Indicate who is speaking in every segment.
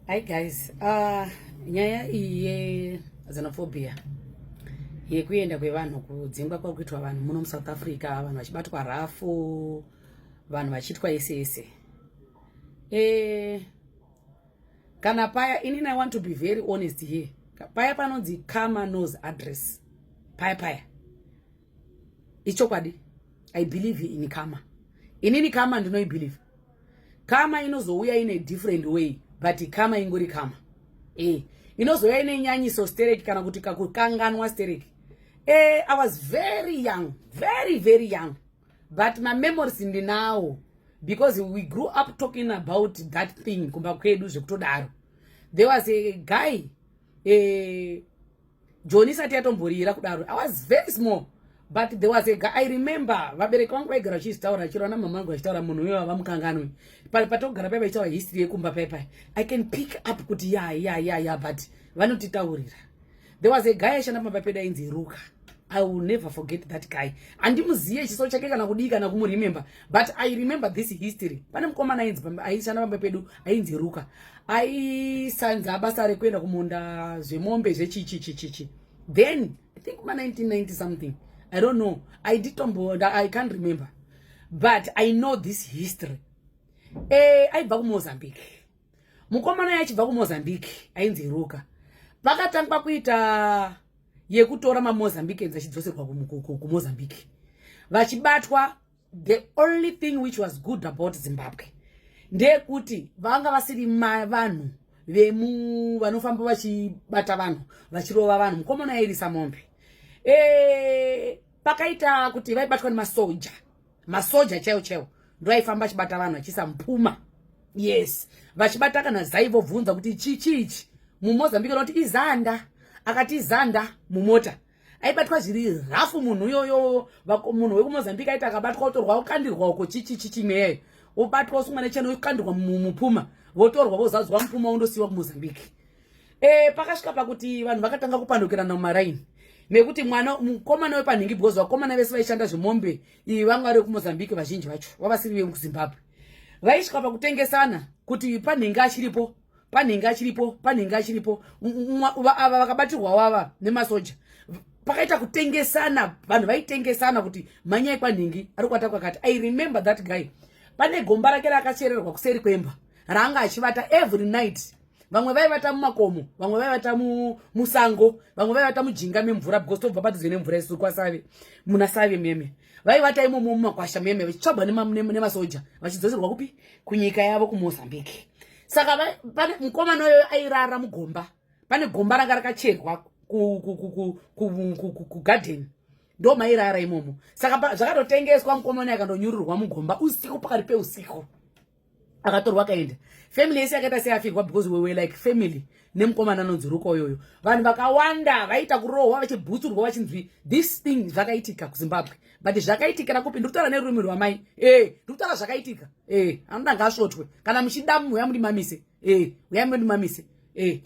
Speaker 1: Hi guys, uh, nyaya iyi yexenophobia yekuenda kwevanhu kudzingwa kwari kuitwa vanhu muno musouth africa vanhu vachibatwa rafu vanhu vachiitwa ese ese e, kana paya inini i want to be very honest here paya panonzi kama nos address paya paya ichokwadi i believe in kama inini kama ndinoibelieve kama inozouya ine different way but kama ingori kama eh inozouya ine nyanyiso stereki kana kuti kakukanganwa stereki eh i was very young very very young but my memories ndinawo because we grew up talking about that thing kumba kwedu zvekutodaro there was a guy eh joni isati yatomborira kudaro i was very small but there was a guy i remember vabereki vangu vaigara vachizvitaura chero ana mama vangu vachitaura munhu uyo vava mukanganwe pale patogara pai vachitaura history yekumba pai pai i can pick up kuti ya ya ya ya but vanotitaurira there was a guy aishanda pamba pedu ainzi ruka i will never forget that guy handimuziye chiso chake kana kudii kana kumuremember but i remember this history pane mukomana ainzi aishanda pamba pedu ainzi ruka aisanza basa rekuenda kumunda zvemombe zvechichichichichi then i think kuma 1990 something i don't know i did tombo i can't remember but i know this history eh aibva kumozambique mukomana yachibva kumozambique ainzi ruka vakatangwa kuita yekutora mamozambique enzi achidzoserwa kumozambique vachibatwa the only thing which was good about zimbabwe ndeyekuti vanga vasiri vanhu vemu vanofamba vachibata vanhu vachirova vanhu mukomana yairisa mombe e, pakaita kuti vaibatwa nemasoja masoja chaiwo chaiwo ndo aifamba achibata vanhu achiisa mupuma yes vachibata kana zai vobvunza kuti chichi ichi mumozambique noti izanda akati izanda mumota aibatwa zviri rafu munhu uyoyo munhu wekumozambique aiti akabatwa otorwa okandirwa uko chichi chichi mweyayo wobatwa usungwa nechena okandirwa mupuma votorwa vozadzwa mupuma wondosiyiwa kumozambique e, pakasvika pakuti vanhu vakatanga kupandukirana mumaraini nekuti mwana mukomana wepanhingi because vakomana vese vaishanda zvemombe iyi vanga vari vekumozambique vazhinji vacho vavasiri vekuzimbabwe vaisvika pakutengesana kuti panhingi achiripo panhenge achiripo panhenge achiripo ava vakabatirwawo ava nemasoja pakaita kutengesana vanhu vaitengesana kuti manyai kwanhingi ari kuata kwakati i remember that guy pane gomba rake rakachererwa kuseri kwemba raanga achivata every night vamwe vaivata mumakomo vamwe vaivata musango vamwe vaivata mujinga memvura because tobva padhuze nemvura isu kwasave muna save meme vaivata imomo mumakwasha muyeme vachitsvagwa nemasoja vachidzoserwa kupi kunyika yavo kumozambique saka pane mukomana uyoyo airara mugomba pane gomba ranga rakacherwa kugadhen ndo mairara imomo saka zvakatotengeswa mukomana akandonyururwa mugomba usiku pakati peusiku akatorwa akaenda family yese yakaita seafirwa because we were like family nemukomana anonzi ruka uyoyo vanhu vakawanda vaiita kurohwa vachibhutsurwa vachinzwi this thing zvakaitika kuzimbabwe but zvakaitikira kupi ndiri kutaura nerurimi rwamai e eh, ndiri kutaura zvakaitika e eh, anoda ngaasvotwe kana muchida munhu uya mundimamise e eh, uya mundimamise e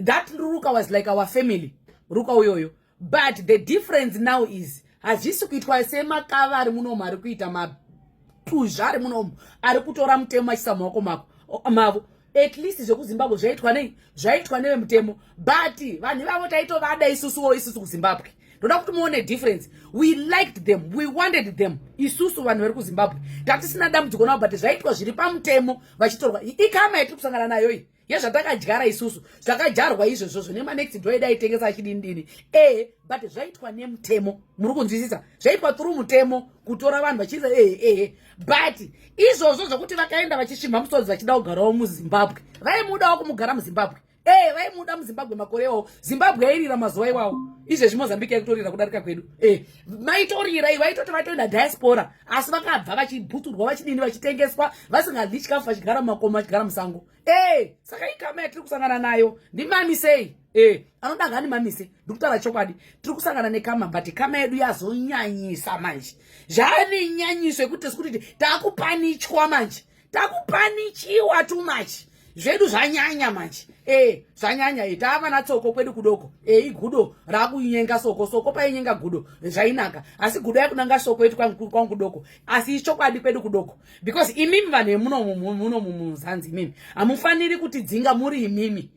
Speaker 1: that ruka was like our family ruka uyoyo but the difference now is hazvisi kuitwa semakava ari munomu ari kuita mapuzva ari munomu ari kutora mutemo achisa maoko mako mavo at least zvekuzimbabwe zvaitwa nei zvaitwa nevemutemo but vanhu ivavo taitovada isusuwo isusu kuzimbabwe ndoda kuti muone difference we liked them we wanted them isusu vanhu vari kuzimbabwe tatisina dambudziko navo but zvaitwa zviri pamutemo vachitorwa ikama yatiri kusangana nayo iyi yezvatakadyara isusu zvakadyarwa izvozvo zvine manext door edu aitengesa achidinidini ee but zvaitwa nemutemo muri kunzwisisa zvaitwa through mutemo kutora vanhu vachiisa ee ee but izvozvo zvokuti vakaenda vachisvimha musodzi vachida kugarawo muzimbabwe vaimudawo kumugara muzimbabwe ee vaimuda muzimbabwe makore iwawo zimbabwe yairira mazuva iwawo izvezvi mozambique yakutorira kudarika kwedu ee maitorirai vaitoti vaitoenda diaspora asi vakabva vachibhuturwa vachidini vachitengeswa vasingadyi chikafu vachigara mumakomo vachigara musango e saka ikama yatiri kusangana nayo ndimamisei e anoda ngani mamise ndikutaura chokwadi tiri kusangana nekama but kama yedu yazonyanyisa manje zvaane nyanyiso yekuti tisi kuti takupanichwa manje takupanichiwa too much zvedu zvanyanya manje e zvanyanya e tava na tsoko kwedu kudoko e igudo rakunyenga soko soko painyenga gudo zvainaka asi gudo yakunanga soko yetu kwangu kwangu kudoko asi ichokwadi kwedu kudoko because imimi vanhu vemuno muno muzanzi imimi hamufaniri kuti dzinga muri imimi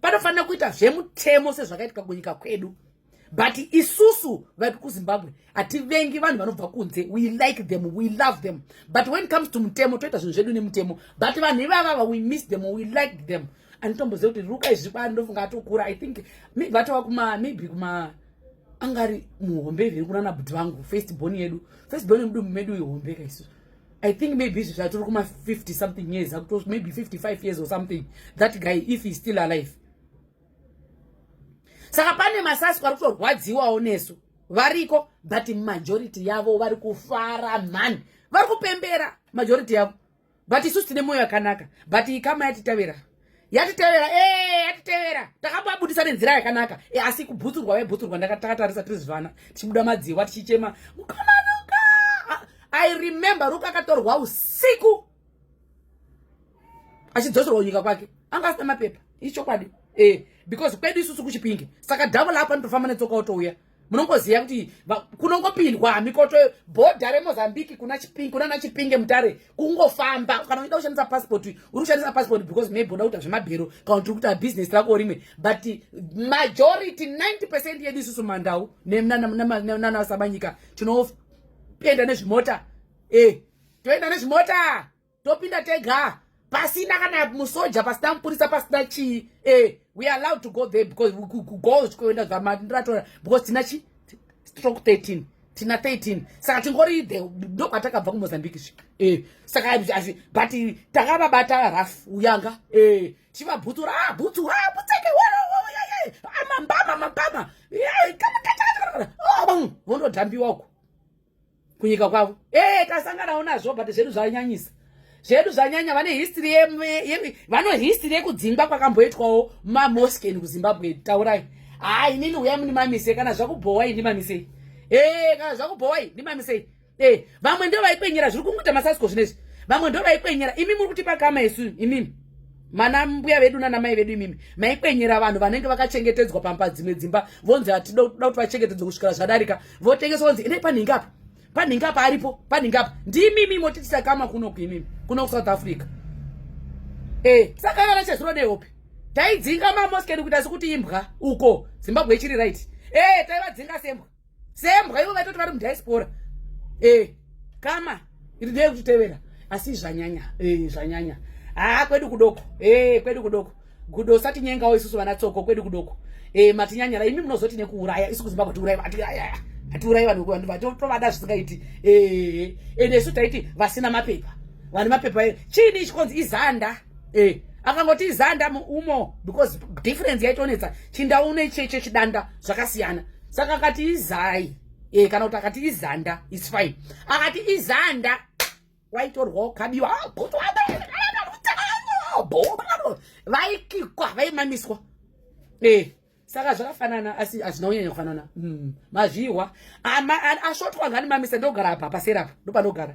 Speaker 1: panofanira kuita zvemutemo sezvakaitika kunyika kwedu but isusu vaipi kuzimbabwe hativengi vanhu vanobva kunze we like them we love them but when comes to mutemo toita zvinhu zvedu nemutemo but vanhu ivavava we miss them we like them anotomboziva kuti ruka izvi kwani ndofunga atokura i think maybe vatova kuma maybe kuma angari muhombe iviri kunana bhuti vangu first born yedu first born yemudumbu medu ihombe kaisusu I think maybe izvi zvatiri kuma 50 something years akuto maybe 55 years or something that guy if he's still alive saka pane masasko ari kutorwadziwawo nesu variko but majority yavo vari kufara mhani vari kupembera majority yavo but isusu tine mwoyo yakanaka but ikama yatitevera yatitevera eh, yatitevera takambabudisa nenzira yakanaka eh, asi kubhutsurwa vaibhutsurwa ndakatakatarisa tiri zvivana tichibuda madziwa tichichema mukamanuka ah, i remember ruka akatorwa usiku achidzoserwa kunyika kwake anga asina mapepa ichokwadi eh because kwedu isusu kuchipinge saka dhavo lapa nitofamba netsoka otouya munongoziva kuti kunongopindwa hamikoto bhodha remozambique kuna chipinge kuna nachipinge mutare kungofamba kana uida kushandisa passport uri kushandisa passport because maybe unoda kuita zvemabhero kana kuti uri kuita business rako rimwe but majority 90 percent yedu isusu mandau nanasabanyika tinopenda nezvimota eh toenda nezvimota topinda tega pasina kana musoja pasina mupurisa pasina chii eh, we are allowed to go there because go zvikoenda zvamandatora because tina chi stroke 13 tina 13 saka tingori the ndo kwatakabva kumozambique zvi eh, saka asi but takavabata raf uyanga eh, chivabhutsura ah, bhutsura ah, butseke amambama ah, mambama eh, kamukata ah, vondodhambiwa uko kunyika kwavo ee eh, tasanganawo nazvo but zvedu zvanyanyisa zvedu zvanyanya vane history vano history yekudzingwa kwakamboitwawo mamosken kuzimbabwe taurai haa inini huya muni mamise kana zvakubhowai ndi mamisei ee eh, kana zvakubhowai ndi mamisei ee eh, vamwe ndo vaikwenyera zviri kungoita masasko zvinezvi vamwe ndo vaikwenyera imi muri kutipa kama isu imimi mana mbuya vedu nana mai vedu imimi maikwenyera vanhu vanenge vakachengetedzwa pamba dzimwe dzimba vonzi hatida kuti vachengetedzwe kusvikira zvadarika votengeswa kunzi endai panhingi apa panhingi apa aripo panhingi apa ndimimi motitisa kama kuno kuimimi kuno kusouth africa e saka kana chezuro nehope taidzinga mamoske edu kuita sekuti imbwa uko zimbabwe ichiri right e taivadzinga sembwa sembwa ivo vaitoti vari mudiaspora e kama ndiri kutevera asi zvanyanya eh zvanyanya ah kwedu kudoko eh kwedu kudoko gudo usati nyengawo isusu vana tsoko kwedu kudoko eh matinyanyara imi munozoti nekuuraya isu kuzimbabwe tiuraya vati ayaya atiuraya vanhu vanhu vatovada zvisingaiti eh ende isu taiti vasina mapepa vane mapepa eh, chini ichikonzi izanda eh akangoti izanda umo because difference yaitonetsa chindaune cheche chidanda zvakasiyana saka akati izai e, kana kuti akati izanda is fine akati izanda waitorwa ukabiwa vaikikwa vaimamiswa e, saka zvakafanana asi hazvina kunyanya kufanana mm. mazvihwa asvotwa nganimamisa ndogara apa pasera apa ndopanogara